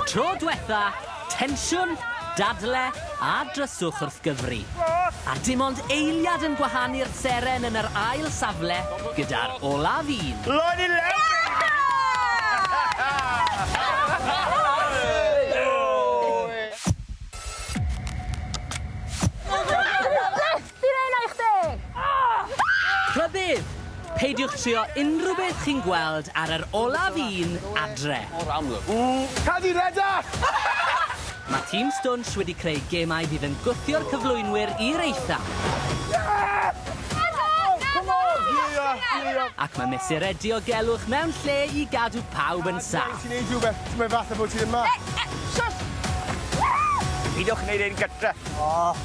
Tro dwetha, tensiwn, dadle a dryswch wrth gyfri. A dim ond eiliad yn gwahanu'r seren yn yr ail safle gyda'r olaf un. Lloyd i lefrith! Fi'n neu' 'na i chdi! Rhybudd! Peidiwch trio unrhyw beth chi'n gweld ar yr olaf un adre. Mor amlwg. Ww! Cad i redag! Mae Team Stwnsh wedi creu gemau fydd yn gwthio'r cyflwynwyr i'r eitha. Ac mae mesurau diogelwch mewn lle i gadw pawb yn saff. Ti'n neud rhywbeth, mae fatha bod ti ddim 'ma. Peidiwch neud ein gytre.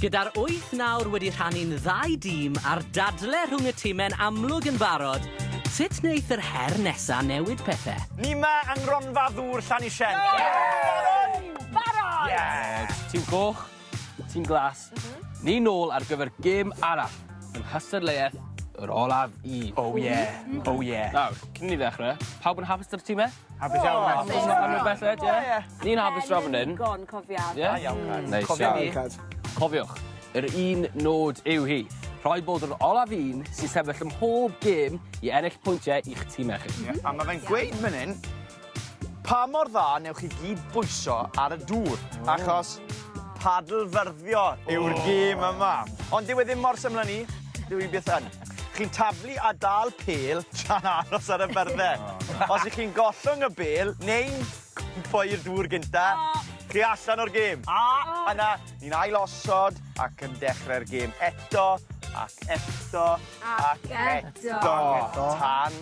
Gyda'r wyth nawr wedi rhannu'n ddau dîm a'r dadle rhwng y time'n amlwg yn barod, sut wneith yr her nesa' newid pethe? Ni 'ma yng Ngronfa Ddŵr Llanisien. Barod! Barod! Yes! Tîm Coch, Tîm Glas, ni nôl ar gyfer gêm arall yng nghystadleuaeth yr olaf i. Oh yeah! Oh yeah! Nawr, cyn i ni ddechre, pawb yn hapus 'da'r time? Hapus iawn Math. Hapus iawn. Am y belled ie? Ie. Ni'n hapus draw fan 'yn. Pen-y-digon cofiad. Ie? Da iawn Cad. Neis iawn. Cofia ni. Cad. Cofiwch, yr un nod yw hi, rhaid bod yr olaf un sy'n sefyll ym mhob gêm i ennill pwyntie i'ch time chi. Ie, a ma' fe'n gweud fan 'yn pa mor dda newch chi gyd bwyso ar y dŵr, achos padlfyrddio yw'r gêm yma. Ond dyw e ddim mor syml â 'ny, dyw 'i byth yn. Chi'n taflu a dal pêl tra'n aros ar y byrdde. O na. Os 'ych chi'n gollwng y bêl neu'n rhoi'r dŵr gynta... O! ...chi allan o'r gêm. O! A yna ni'n ailosod ac yn dechre'r gêm eto ac eto ac eto. Ac eto. Tan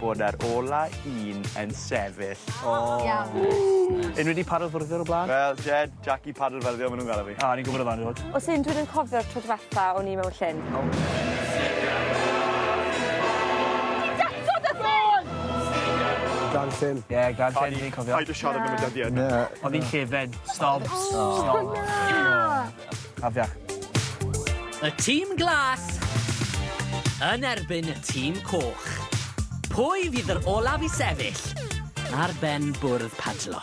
bod yr ola un yn sefyll. O! Iawn. Unrywun 'di paro'r fwrdd o'r bla'n? Wel Jed, Jackie Padrfelddio ma' nhw'n galw fi. A, ni'n gwybod amdano fod. Os un dwi'n yn cofio'r tro dwetha o'n i mewn llyn. Grand Llyn. Ie, Grand Llyn fi'n cofio. Paid a siarad am y dyddiad. Na. O'n i'n llefen. Stop. Stop. Na! Afiach. Y tîm glas yn erbyn y tîm coch. Pwy fydd yr olaf i sefyll ar ben bwrdd padlo?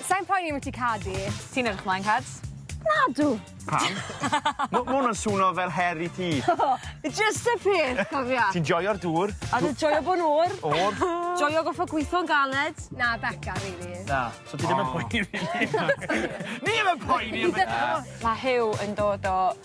Sai'n poeni ambyti cad i. Ti'n edrych mlaen cads? Nadw! Pam? Ma' ma' wnna'n swno fel her i ti. Jyst y peth cofia. Ti'n joio'r dŵr. A dwi joio bo'n oer. Oer. Joio goffo gwitho'n galed. Na Beca rili. Na. So ti ddim yn poeni rili. Ni 'im yn poeni am y cad! Ma' Huw yn dod o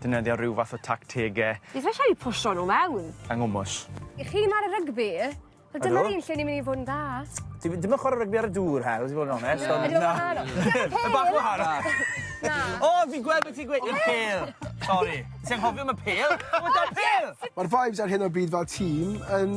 defnyddio rhyw fath o tactegau. Beth mae eisiau fi pwsio nhw mewn? Yng Nghwmwys. I chi mae'r rygbi, wel dyma'r un lle ni'n mynd i fod yn dda. Ti ddim yn chwarae rygbi ar y dŵr, Hel, ti fod yn onest. Na. Ydy o'n wahanol? Mae'n bach yn wahanol. Na. O, fi'n gweld beth ti'n gweud, y pêl. Sori. Ti'n anghofio am y pêl? Mae'r vibes ar hyn o bryd fel tîm yn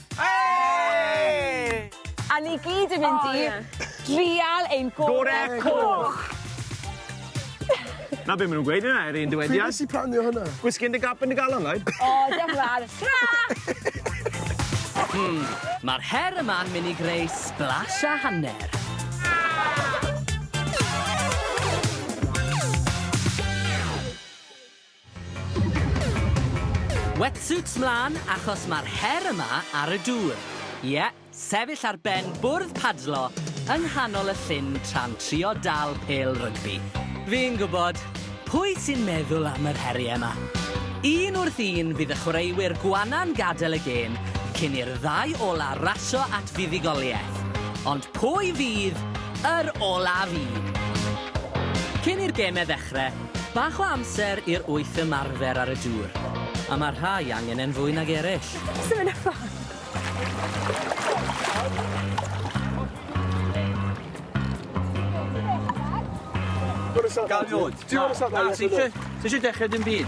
Hei! A ni gyd yn mynd i... O ie. ...drial ein gore... Gore coch! 'Na be' ma' nw'n gweud ynde ar un dywediad. Pryd nes di plannu hwnna? Whisky in the gap yn dy galon like. O diolch yn fawr. Tara! Hmm, ma'r her yma'n myn' i greu sblash a hanner. Wetsuits 'mlan achos mae'r her yma ar y dŵr. Ie, sefyll ar ben bwrdd padlo yng nghanol y llyn tra'n trio dal pêl rygbi. Fi'n gwybod, pwy sy'n meddwl am yr heriau 'ma? Un wrth un bydd y chwaraewyr gwanna'n gadael y gêm cyn i'r ddau ola' rasio at fuddugoliaeth. Ond pwy fydd yr olaf un? Cyn i'r gemau ddechrau, Bach o amser i'r wyth ymarfer ar y dŵr, a mae rhai angen e'n fwy nag eraill. Sut mae'n effan? Ti isio dechrau dim byd?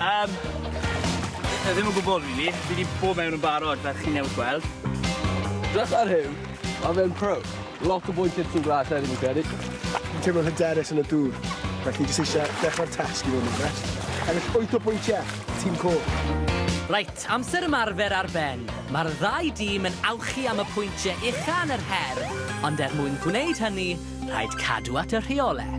Yym, yy ddim yn gwbod rili. Fi 'di bod mewn yn barod fel chi newydd gweld. Drysa Huw, ma' fe'n pro. Lot o bwyntie tŷ Gwlad Llechi fi'n credu. Fi'n teimlo'n hyderus yn y dŵr, felly jyst eisiau dechrau'r tasg i fod yn onest. Ennill wyth o bwyntiau, tîm coch. Reit, amser ymarfer ar ben. Mae'r ddau dîm yn awchu am y pwyntiau ucha yn yr her, ond er mwyn gwneud hynny, rhaid cadw at y rheolau.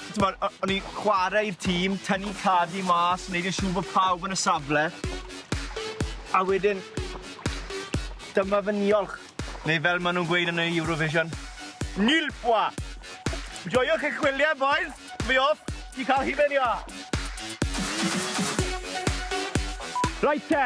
T'mod, o- o'n i'n chware i'r tîm, tynnu tadi mas, neud yn siŵr bo' pawb yn y safle. A wedyn dyma fy niolch, neu fel ma' nw'n gweud yn y Eurovision, Nil pois! Joiwch eich gwylie bois, fi off i ca'l hufen iâ! Reit te!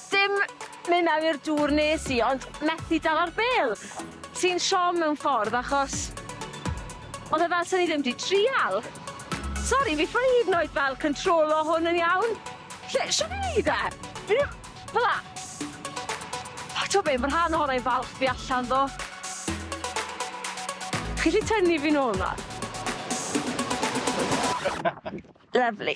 Dim myn mewn i'r dŵr nes i ond methu dala'r bêl. Ti'n siom mewn ffordd achos odd e fel sa ni ddim di trial. Sori fi ffai hyd yn oed fel cyntrolo hwn yn iawn. Lle shwt fi'n neud e? Fi ddim... Fela. O t'o be ma rhan ohona i'n falch fi allan ddo. Chi 'llu tynnu fi nôl nawr? Lyfli.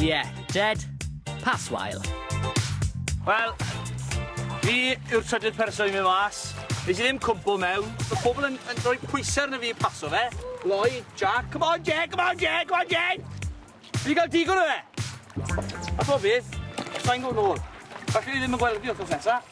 Yeah, Jed, pass wael. Wel, fi yw'r trydydd person i mi mas. Nes i ddim cwmpo mewn. Mae pobl yn, yn rhoi pwysau arno fi paso fe. Loi, Jack, come on Jed, come on Jed, come on Jed! Fi gael digon o fe! A bob beth, sa'n gwybod nôl. Falle i ddim yn gweld fi wrth nesaf.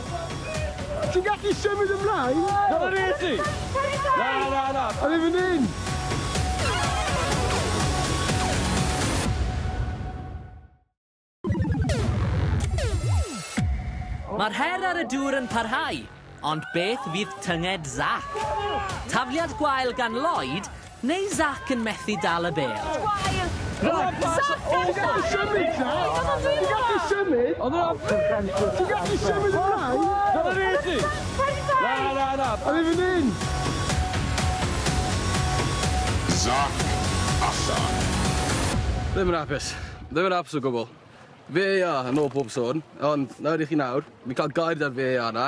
Ti'n gallu symud ymlaen? Dyna ni ti! Na, na, na! O'n i fan hyn! Mae'r her ar y dŵr yn parhau, ond beth fydd tynged Zac? Tafliad gwael gan Lloyd, Neu Zac yn methu dal y bêl. Gwael! Zac ar allan. Ddim yn apus. Ddim yn apus o gwbl. VAR yn ôl bob sôn, ond nawr i chi nawr. Fi'n ca'l gair 'da'r VAR 'na.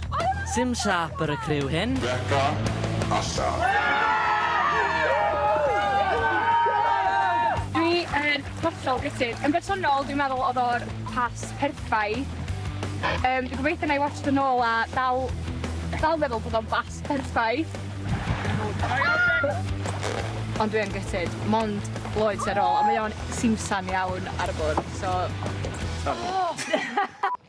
Sim siâp ar y criw hyn. Beca a Sian. Dwi yn hollol gutted. Yn bersonol, dwi'n meddwl oedd o'r pas perffaith. Um, dwi'n gobeithio na i watch yn ôl a dal, dal meddwl bod o'n bas perffaith. Ond dwi yn gutted. Mond Lloyd sy'n ôl, a mae o'n simsan iawn ar y bwrdd, so... Oh!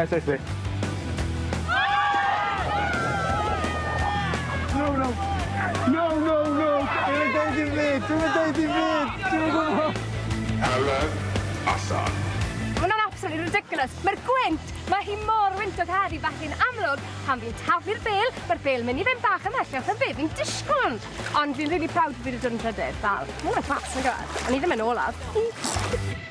Ers eich beth? No, no! No, no, no! Dwi'n yn dweud i fi! Dwi'n yn dweud i fi! Dwi'n yn gwybod! Helen, allan! Mae hwnna'n absolutely ridiculous. Mae'r gwynt, mae hi mor wyntog heddi felly yn amlwg, pan fi'n taflu'r bel, mae'r bel mynd i fynd bach ymhellach yn fe fi'n disgwyl. Ond fi'n really proud bod fi wedi dod yn trydydd, fel, mae hwnna'n class, yn gwybod? O'n i ddim yn olaf.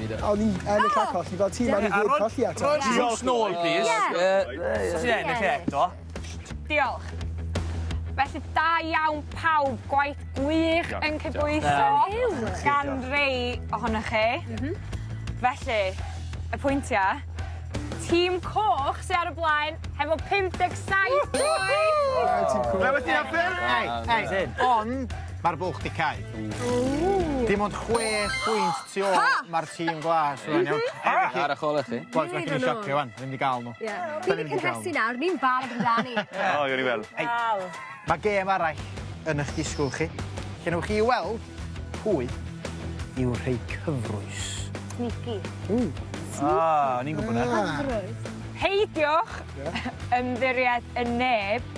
A o'n i'n ennill a colli fel ti, mae rhaid colli eto. Rhoi drws nôl, plîs. Os ti'n ennill e eto. Diolch. Felly, da iawn pawb, gwaith gwych yn cydbwyso gan rei ohonoch chi. Felly, y pwyntiau, Tîm Coch sy ar y blaen hefo 57 pwynt! Ti'n cŵl. Rhywbeth ti'n hoffi? Ei, ei, ei, ond... Ma'r bwlch 'di cau. Ww! Dim ond chwe phwynt tu ôl... Ha! ...ma'r tîm glas rŵan iawn? Ha! Ar y chole chi. Bois ma' gen i sioc fi ŵan, ni mynd i ga'l n'w. Ie. Fi 'di cynhesu nawr, ni'n barod amdani. O, gewn ni weld. Wel. Ma' gêm arall yn 'ych disgwl chi, lle newch chi weld pwy yw'r rhei cyfrwys. Sneaky. Ww. Sneaky. O, o'n i'n gwbo 'na. Cyfrwys. Peidiwch ymddiried yn neb.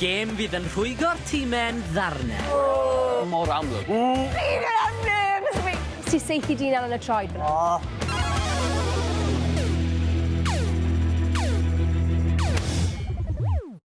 Gêm fydd yn rhwygo'r time yn ddarne. Ww! Mor amlwg. Ww! Fi'n cael am nerves fi! Ti saethu dyn allan y troed fan 'na. O!